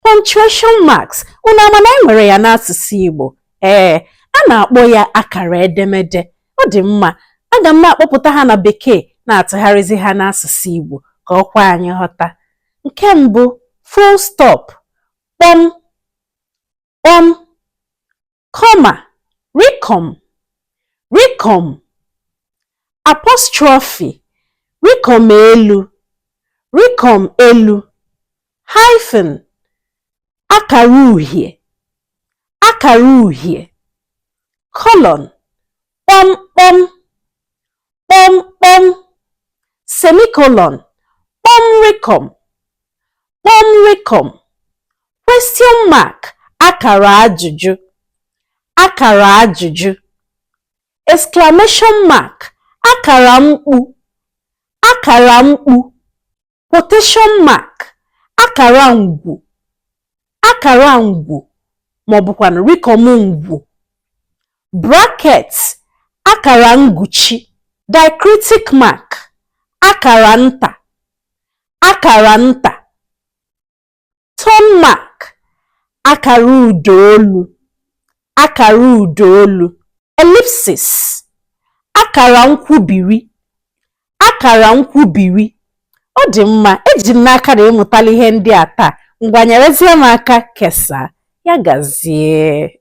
Punctuation marks unu ama na e nwere ya n'asụsụ Igbo ee a na-akpọ ya akara edemede ọ dị mma aga m na-akpọpụta ha na bekee na-atụgharịzi ha n'asụsụ Igbo ka o kwe anyị ghọta nke mbụ full stop kpọm kpọm comma rịkọm rịkọm apostrophe rịkọm elu rịkọm elu hyphen akara uhie akara uhie colon kpọmkpọm kpọmkpọm semicolon kpọm rịkọm kpọm rịkọm question mark akara ajụjụ akara ajụjụ exclamation mark akara mkpu akara mkpu quotation mark akara ngwu akara ngwu ma ọ bụkwanụ rịkọm ngwu bracket akara nguchi diacritic mark akara nta akara nta Tone mark akara ụda olu akara ụda olu ellipsis akara nkwubiri akara nkwubiri ọ dị mma eji m n'aka na ị mụtala ihe ndị a taa ngwa nyerezie m aka kesaa ya gazie